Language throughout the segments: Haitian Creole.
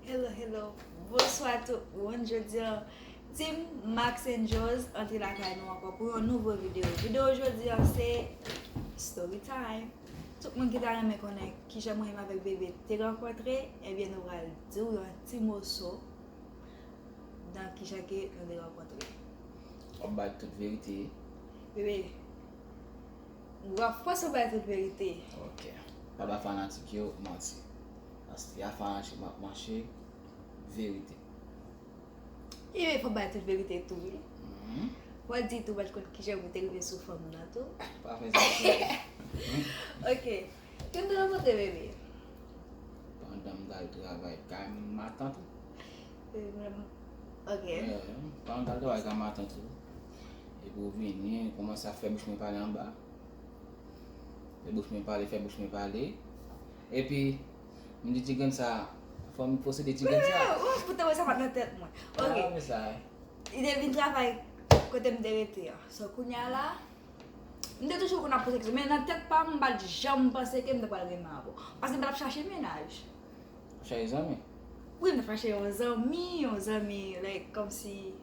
Hello hello Bonswa tout moun Jodi an Team Max and Joe's antre lakay nou ankò pou yon nouvo videyo Videyo jodi an se Story time Tout moun ki ta renmen konnen kijan mwen menm avèk Bebe te rankontre Ebyen nou pral di ou yon ti moso nan kijan ke nou te rankontre Wap bay tout verite Bebe Wap fò si w bay tout verite. Ok pa bay fanatik yo manti paske a fanatik map manche verite. Ui fò bay tout verite tou wi. Fò di tou bat kont kijan pou te rive sou fanm nan tou. Pa fè sa tou. Ok Kote nou rankontre bebe. Pandan m tal travay kay matant ou. Ok. Pandan m tal travay kay matant ou. Epi ou vini ou kòmanse ap fè bouch mwen pale anba. Fè bouch mwen pale, fè bouch mwen pale. Epi, m di ti grenn sa, fò m posede ti grenn sa. Ou ou te wè sa pa t nan tèt mwen. Ou pa wè sa. Ok, li te vin travay kote m te rete an. So kounye a la, m te toujou konn ap poze kesyon men nan tèt pa m m pa t janm panse ke m ta pral renmen avè w. Paske m pa t ap chache mennaj. Chache zanmi? Wi, m t ap chache yon zanmi, yon zanmi like kòmsi.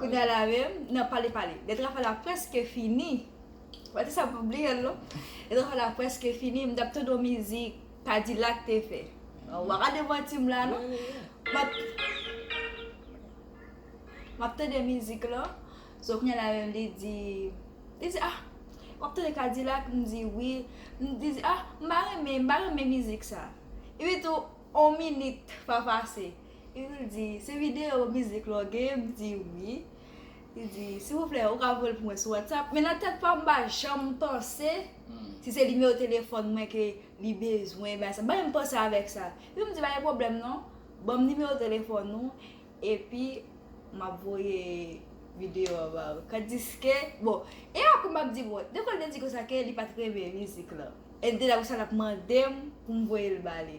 Kounya la menm nan pale pale. Letra fè la preske fini. Wè ti sa pou bliyel non. Letra fè la preske fini. M tap tande yon mizik Kadilak te fè. Wa gade manti m la non. Map Map tande mizik lan. So kounya la menm li di Li di ah Wap tande Kadilak m di wi. M di ah m pa renmen m pa renmen mizik sa. Epi tou on minit pa pase. Epi l di, se videyo mizik la w gen? M di wi. Li di, silvouplè, ou ka voye l pou mwen sou Whatsapp? Men nan tèt pa m m pa janm panse si se nimewo telefòn mwen ke li bezwen, bay sa. M pa menm panse avèk sa. Epi m di, pa gen pwoblèm non, ban m nimewo telefòn ou, epi m ap voye videyo a ba ou. Tandiske, bon, e apre m ap di, bon, depi lè l te di konsa ke li pa t renmen mizik la, e l te la konsa l ap mande m pou m voye l ba li.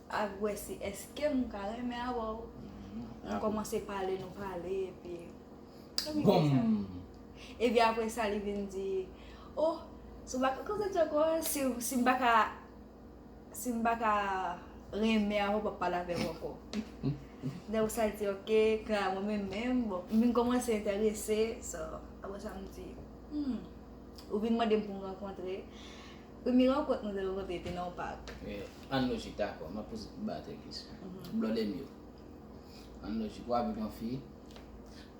Ak wè si eske m ka renmen avè w. Nou kòmanse pale, nou pale epi. Boom! Epi apre sa li vin di, o, si w pa ka koze djank ou an, si m pa ka, si m pa ka renmen avè w, m p ap pale avè w ankò. Lè w sa l di ok, kè a mwen menm menm, bon, m vin kòmanse enterese, so, apre sa m di, hmm, ou vin mande m pou m rankontre. Premye rankont nou te rankontre te nan yon pak. An lojik, dakò, m ap poze pou Bato yon kesyon. Blòdèmil, an lojik, ou avèk yon fi,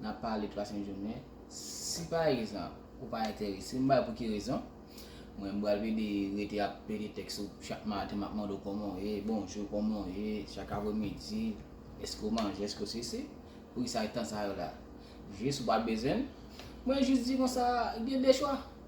n ap pale, pase yon jounen, si pa egzanp, ou pa enterese, m bay pou ki rezon, mwen m pral plede rete ap pede tèks ou chak maten, m ap mande w kòman w ye, bonjou, kòman w ye, chak apremidi, èske w manje, èske w sesi, pou ki sa tan sa yo la? Jis ou pa bezwen m, mwen jis di konsa, gen de chwa.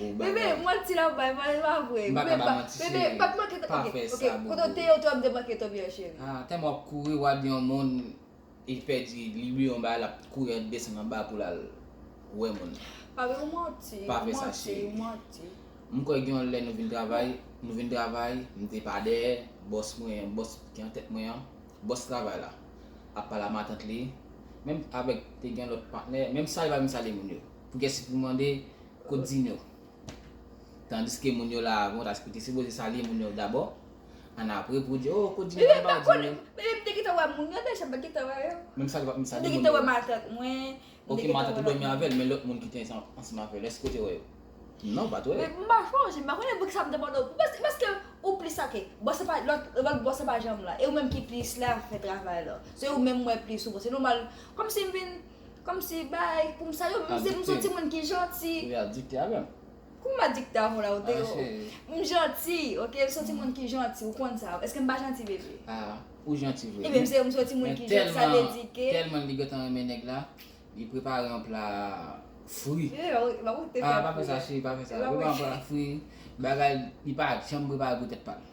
Ou bagay. Bebe manti lap bay man li pa vre. M paka bay manti cheri. Bebe pa manke to ok ok kote w te ye ou te wè m te manke to byen cheri. Ah tèlman wap kouri wad yon moun e pèdi li bliye yon bagay lap kouri an desann anba poul al wè moun. Papi ou manti ou manti ou manti. M kwè gen yon lè nou vin travay nou vin travay m te pa dèyè bòs mwen an bòs ki an tèt mwen an bòs travay la ap pale a matant li menm avèk te gen lòt patnè menm sa li pa vin sale moun yo pou kiyès li pou mande Kot din yo? Tandiske moun yo la avan tas ki te sipoze salye moun yo dabò, an apre pou di oh kot din yo an pa din yo. Bebe m te gentan wè moun yo deja m pat gentan wè yo. Menm sa m te gentan wè matant mwen. Ok matant ou dòmi avèl men lòt moun ki te ansanm avèl èske ou te wè yo? Non m pat wè yo. M pa chonje m pa konnen pou kisa m te mande w e paske ou plis ok bò se pa lòt bò se pa janm la e ou menm ki plis la fè travay la se ou menm m wè plis ou bon se nòmal kòmsi m vin Komsi bay poum sa yo menm si mson moun ki janti. Ou ya dikte avèm. Kouman map dikte avèw la ou deyò. M janti ok mson ti moun ki janti ou konn sa eskem pa janti bebe. Ahh ou janti vre. Ebyen mse mson ti moun ki janti sa vle di ke. Telman li gentan renmen nèg la li prepare yon pla fri. Ahh pa fè sa cheri pa fè sa. Li prepare yon pla fri bagay li pa janm prepare pou tèt pal.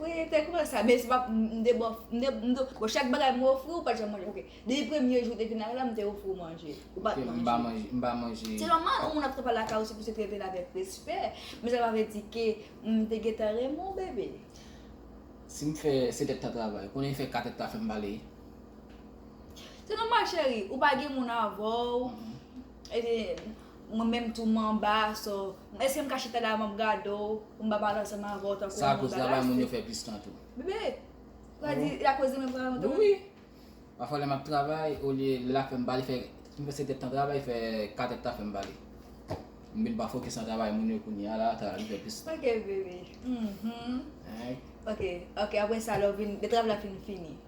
Wi te koumanse sa men se pa m te bòf m te m te chak bagay m ofri ou pat janm manje ok depi premye jou te vin lakay la m te ofri ou manje ou pat manje m pa manje m pa manje se nòmal yon moun ap travay lakay ou se pou se trete l avèk respè men sa pa vle di ke m te gentan renmen w bebe. Si m fè 7 èd tan travay konnen m fè 4 èd ta fè m pale. Se nòmal cheri ou pa gen moun avè w. Mwen menm tou m anba so Eske m ka chita la map gade w Pou m pa pale ansanm avè w tankou yon moun bagay Sa akoz travay mwen yo fè plis tan tou Bebe Sa di la koz mwen travay mwen tou Wi Pafwa lè map travay olye lè la fèm pale fè m fè 7 èd tan travay fè 4 èd tan fèm pale M vin pa fokis nan travay moun yo kounye a la travay m fè plis tan Ok bebe Hum hum Ok ok aprè sa lè w vin lè travay la fin fini.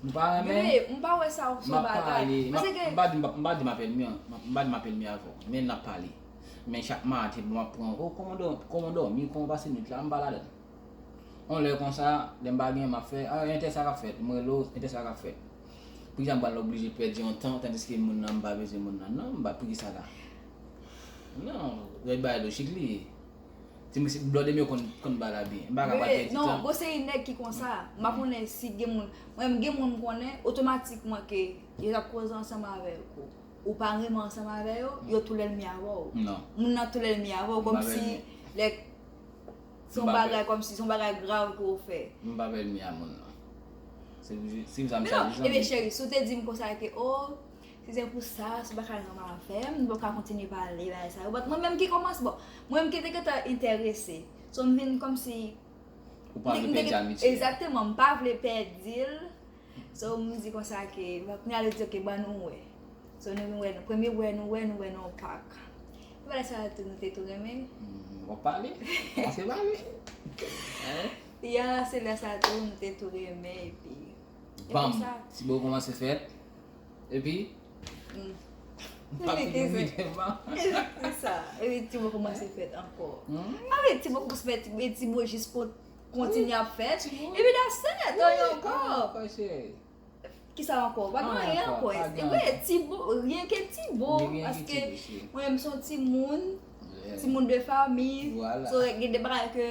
M pa renmen. Bebe, m pa wè sa son bagay. M ap pale. M pa di m pa di m ap elmi an. M pa di m ap elmi avè w. Men n ap pale. Men chak maten m ap pran w. O kòman dò, kòman w dòmi, kòman w pase nwit la, m pa ladan l. On lè konsa, lè m pa gen, m ap fè, a entè sa k ap fèt? M rele w, entè sa k ap fèt? Poukisa m pral oblije pèdi yon tan tandiske moun nan m pa bezwen moun nan. Non, m pa, poukisa la? Non, lè bagay lojik li ye. Ti mesye ti blòdem yo konn ba la byen. Mpaka pral pèdi tan. Non bon se nèg ki konsa. Mpa konnen si gen moun. Mwen gen moun mkonnen otomatikman ke yo tap koze ansanm avèw kou ou pa renmen ansanm avè yo, yo tou lènmi avèw. Non. Moun nan tou lènmi avèw kòmsi lè son bagay kòmsi son bagay grav ke ou fè. Mpa lènmi a moun nan. Se pou sim sa msa di zanmim. Ebyen cheri si ou te dim konsa ke oh Si se pou sa, si w pa ka al nan yon afè, nou pa pou ka kontinye pale bagay sa yo. But mwen menm ki kòmanse, bon, mwen menm ki te gentan enterese. So m vin kòmsi. Ou pa vle pèdi amitye a. Exactement, m pa vle pèdi l. So m di konsa ke, bon kounye a li di ok ban nou wè. So nou vin wè, premye wè nou wè, nou wè nan yon pak. Epi bagay sa yo tou nou te tou renmen. Wap pale, kòmanse pale. Ya, se lè sa tou nou te tou renmen epi. Banm, ti bo kòmanse fèt. Epi? Epi pa fin yon miten pa. Epi sa? Epi ti mwen koumanse fèt ankò. Epi ti mwen koumanse fèt. Epi ti mwen jis pot kontinye ap fèt. Epi da sè. Epi yon ankò. Ankò cheri. Ki sa ankò? Pa gen anyen ankò. Pa gen anyen. Epi ti mwen. Rien ke ti mwen. Rien ke ti mwen cheri. Mwen menm son ti moun. Ti moun de fami. Vwala. So gen de bagay ke.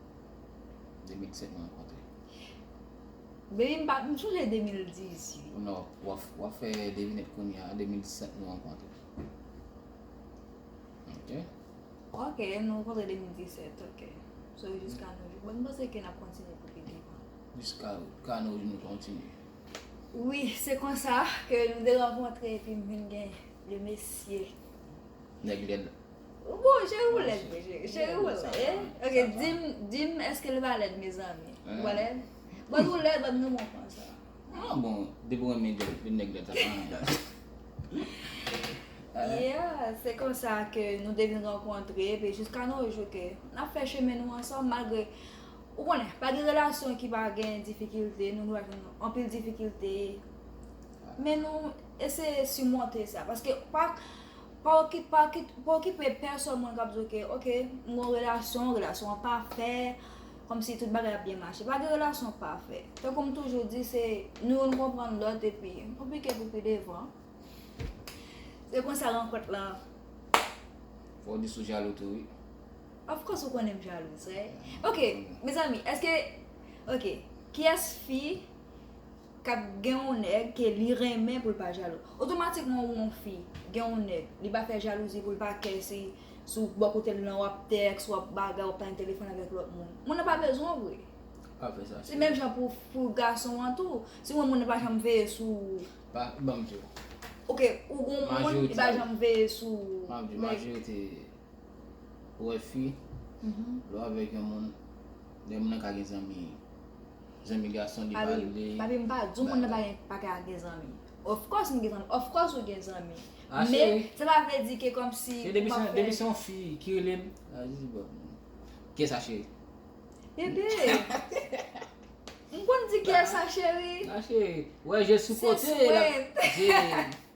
2007 nou rankontre. Mezanmi m pa, m sonje 2010 ui. Non, wap fè devinèt kounya, 2007 nou rankontre. Ok. Ok, nou rankontre 2017, ok. So jiska nou jou. Bon m panse ke nap kontinye pou pi devan. Jiska ka nou jou nou kontinye. Wi, se konsa ke nou te rankontre epi m vin gen le mesye. Nèg lèd la. Ou bon cheri ou lèd vre cheri. Cheri ou lèd. Ok dim dim eske l pa lèd mezanmi. Ou pa lèd? Bon ou lèd mwen nou mwen pran sa. Ah bon, depi ou renmen lèd, vin nèg lèd sa pa nan dal. Yeah, se konsa ke nou te vin rankontre epi jiska nou jou ke n ap fè chemen nou ansanm malgre ou konnen pa gen relasyon ki pa gen difikilte, nou nou avèn anpil difikilte men nou eseye simonte sa paske pa Pa okip pa okip pa okipe pèsòn mwen kap di w ke ok m gon relasyon relasyon an pafè kòmsi tout bagay ap byen mache pa gen relasyon pafè tankou m toujou di se nou youn konprann lòt epi nou pike pou pi devan se konsa rankont lan Fòw di si w jalou tou wi. Of course ou konnen m jalou sèy ok mezanmi eske ok kiyès fi. Ka gen yon nèg ke li renmen pou l pa jalou. Otomatikman ou yon fi, gen yon nèg, li pa fè jalouzi pou l pa kè si sou bò kote l lan w ap tèks, w ap bagay, w ap pale telefòn avèk lòt moun. Moun nan pa bezwen w vre. Pa fè sa. Se menm jan pou pou gason an tou. Si w wè moun nan pa janm veye sou ou. Pa ban m di w. Ok, ou gen yon moun ki pa janm veye sou ou. Map di w, majorite ou wè fi, lè w avèk yon moun, lè moun nan ka gen zanmi. Zanmi gason li pa vle. Papi m pa di w moun nan pa ka gen zanmi. Of course m gen zanmi. Of course ou gen zanmi. Men sa pa vle di ke kom si. Se depi se depi se yon fi ki rele m. Kiyes a cheri? Bebe. M konn di kiyes a cheri. A cheri. Ou wè je sou kote. Se swet.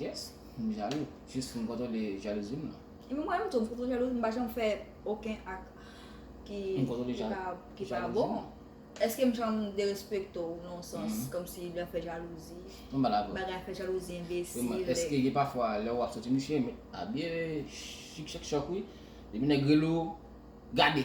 Yes m jalou jis pou m kontwole jalouzi m nan. Epi mwen menm tou m kontwole jalouzi m m pa janm fè oken ak ki pa bon. Eske m janm derespekte w nan yon sans kòmsi lè fè jalouzi bagay fè jalouzi enbesil. Eske gen pafwa lè wap soti misye abye chik chak chòk wi depi nèg rele w gade.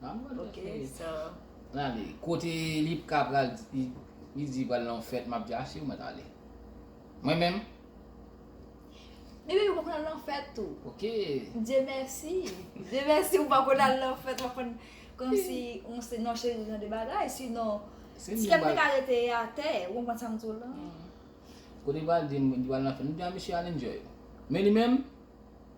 Ok so. Kote lipka pral li di pral nan yon fèt map di a siw mèt ale. Mwen menm. Depiw pral nan fèt tou. Ok. Dye mèsi. Dye mèsi ou pa konn al nan fèt wap konn komsi ou se nan cheri jan de bagay si non. Si kèm te ka rete atè ou konprann sam diw la. Kote pral di pral nan fèt. Mwen di a misye al enjoy. Men li menm.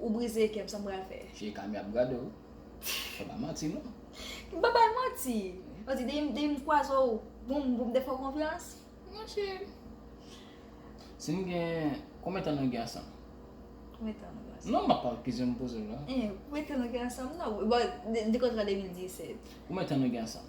Ou brize kèm sa m pral fè. Fye kami ap gade w. Fè pa manti non. M pa bay manti. Manti depi m kwaze w pou m te fè w konfyans. Mon chè. Si m gen konbyen tan nou gen ansanm? Konbyen tan nou gen ansanm? Non m ap pale kesyon m poze w la. Hein konbyen tan nou gen ansanm nan. Bon de kontra 2017. Konbyen tan nou gen ansanm?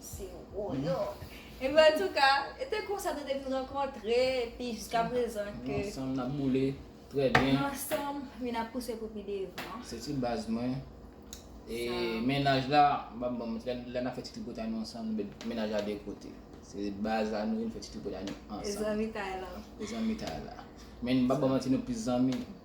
Se Roland. Ebyen an touka, e te konsa nou te vin rankontre epi jiska prezan ke. Nou ansanm nap boule trè byen. Nou ansanm men nap pouse pou pi devan. Se ti baz mwen. E mennaj la, map banm, lè nap fè ti tripotay nou ansanm nou met mennaj la de kote. Se baz la nou vin fè ti tripotay nou ansanm. E zanmitay la. E zanmitay la. Men m pap banm manti nou plis zanmi.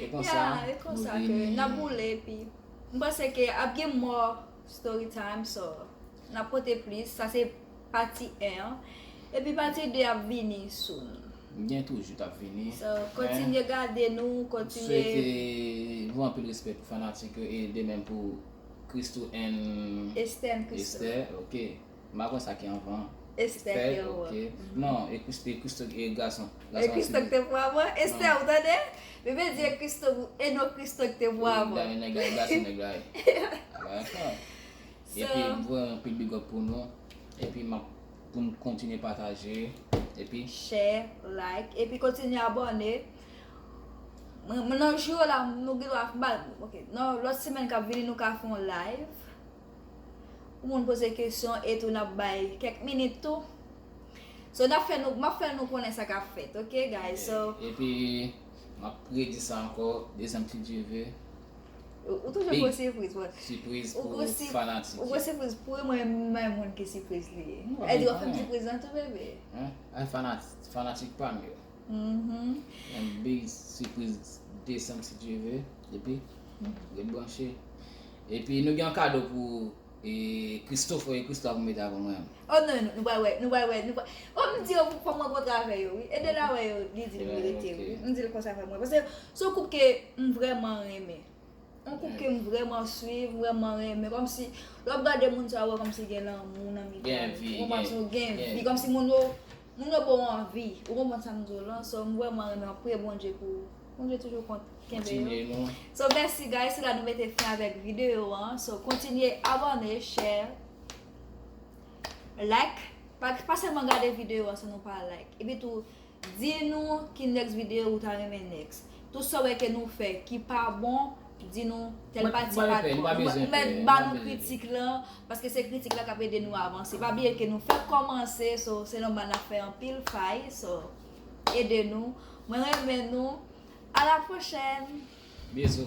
E konsa nou vini. Nap boule epi. M panse ke ap gen more story time so nap pote plis. Sa se pati 1 an. Epi pati 2 ap vini soon. Gen toujou kap vini. So kontinye gade nou, kontinye. M swete nou anpil respè pou fanatik yo e demèm pou Christoo and. Esther and Christoo. Esther ok. M pa konn sa ki anvan an. Estè Esther ok Pierrot. Non e Christo e Christo e gason E gason an Christo ki Sidney. te pou avan an. Esther Non. ou tande? Bebe di e Christo pou e non Christo ki te pou Ou avan. dayè nèg la e gason nèg la ye. A bagay an fèm. So Epi m voye yon pil bigòp pou nou. Epi map pou nou kontinye pataje. Epi Share, like epi kontinye abòne. Mwen mwen nan jou yo la nou gen dwa mal ok nan lòt semèn kap vini nou ka fè yon live. Pou moun poze kesyon e tou nap bay kèk minit tou. So nap fè nou, map fè nou konnen sa kap fèt ok guys so. Epi map redi sa ankò dezyèm si Dye ve. Ou toujou gwo sipriz bon. Sipriz pou fanatik yo. Ou gwo sipriz pou yo mwen renmen moun ki sipriz li ye. Eddy wap fèm sipriz lan tou bebe. Ay fanatik pam yo. Yon big sipriz desanm si Dye ve epi ret branche. Epi nou gen yon kado pou Christophe oye Christo ap mete avan mwen. Oh non nou pral wè nou pral wè nou pral oh m di yo fòk mwen kontre avè yo wi Edel a wè yo li di l verite wi m di l konsa fòk mwen pase s on koup ke m vrèman renmen s on koup ke m vrèman swiv m vrèman renmen kòmsi lè w ap gade moun sa w wè kòmsi gen lanmou nan mitan yo gen vi gen vi kòmsi moun yo Moun yo bon anvi. Ou konprann sa m di w lan so m vreman renmen priye Bondye pou Bondye toujou kont kenbe yo so mèsi guys se la nou mete fen avèk video an so kontinye abone share like pa sèlman gade video an san nou pa like epi tou di nou ki next video ou ta renmen next. Tout sa w wè ke nou fè ki pa bon, di nou tèl pati pa bon. Nou pa bezwen fè. Mèt ba nou kritik lan, paske se kritik la k ap ede nou avanse. Pa bliye ke nou fèk kòmanse, so se nòmal n ap fè anpil fay, so ede nou. Mwen renmen nou. A la pwochèn! Bizou!